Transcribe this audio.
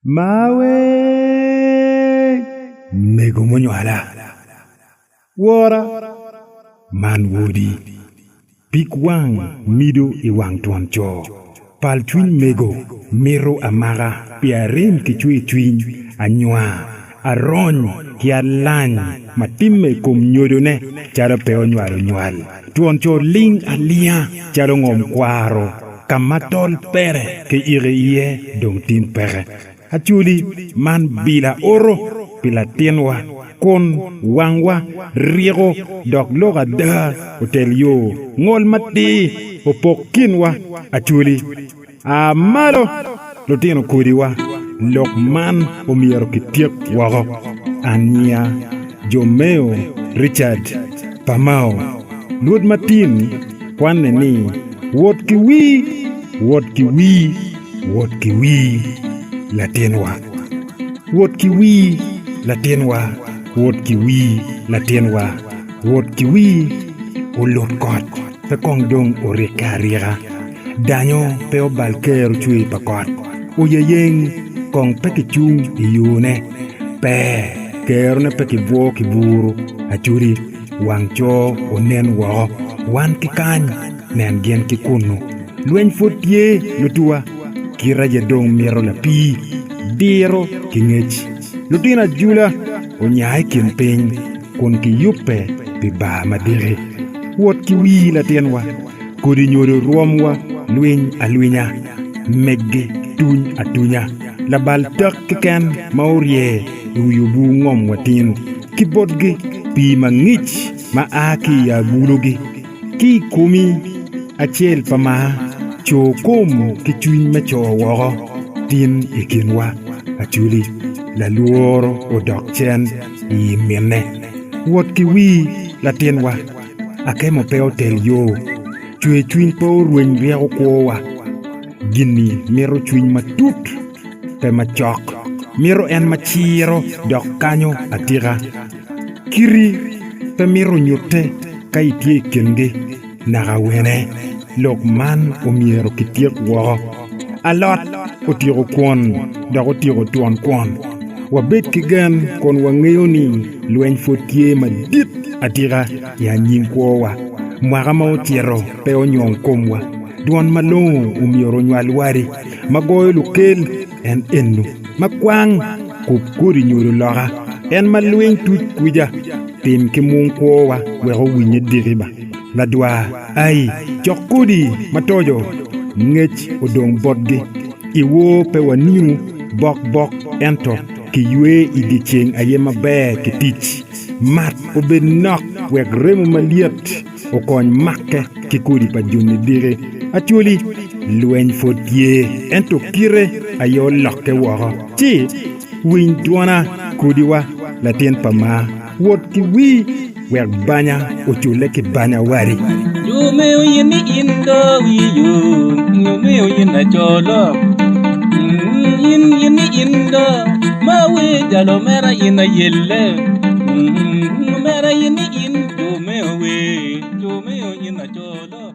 Maawee! Mego munywala! Wora! Man wodi! Pig wang mido i wang twon co. Pal cwiny mego mito amaka pi arem ki cwercwiny anywar. Arony ki alany ma timme i kom nyodone calo pe onywalo nywal, twon co ling alinga calo ngom kwaro, ka ma tol pere ki iki iye dong tim peke. Acholi, man bila oro pi latinwa, kun wangwa riko dok lok ada otel yo, ngol matir opok kinwa. Acholi. A malo, lutino kodiwa! Lok man omyero kityek woko. Ania, Jomeo, Richard, pa Mao, Lwod Martin kwanne ni, Wot ki wii, wot ki wii, wot ki wii, latinwa. Wot ki wii, latinwa, wot ki wii, latinwa, wot ki wii. Olut kot, pe kong dong orikke arika. Danyo pe obal ker ocwir pa kot, oyeyeng kong pe kicung i yone. Pe, kerone pe kibwo ki buru acudi, wang co onen woko, wan ki kany, nen gin ki kunnu. Lweny pwod tye, lutuwa, kit aye dong mito lapii, diro ki ngec. Lutino ajula onya i kin piny kun kiyubbe pi baa madiki. Wot ki wii latinwa. Kodi nyodo rwomwa lwiny alwinya, meggi tuny atunya. Labal tek keken ma orye i wi obwu ngom wa tin ki botgi. Pii mangic ma a ki i agulugi ki i komi acel pa maa co kom ki cwiny me co woko tin i kinwa. Acholi, lalworo odok cen i minne. Wot ki wii, latinwa. Akemo pe otel yo, cwercwiny pe orweny ryeko kwowa. Gin-ni mito cwiny matut, pe macok, mito en ma ciro dok kanyo atika. Kiti pe mito nyutte ka itye i kingi naka wene. Lok man omyero kityek woko. Alot otyeko kwon dok otyeko twon kwon. Wabed ki gen kun wangeyo ni lweny pwod tye madit atika i anyim kwowa. Mwaka ma ocito pe onywong komwa. Dwon malongo omyero onywal wadi ma goyo lukel en eno, ma kwang kub kodi nyodo loka. En ma lwiny tuc kwica, tim ki mung kwowa wek owinye diki ba. Ladwar. Ai, cok kodi matoco, ngec odong botgi. I wor pe wanino bokbok ento kiywe i dyeceng aye maber ki tic. Mat obed nok wek remo malyet okony makke ki kodi pa joni diki. Acholi, lweny pwod tye ento kite aye olokke woko ci. Winy dwona, kodiwa, latin pa maa. Wot ki wii, wek banya ocule ki banya wadi. Yo me oyin ni in do wiyo, yo me oyin na colo. In yin ni in do, ma wi jalo mera in ayelle. Mera yin ni in yo me owe, yo me oyin na colo.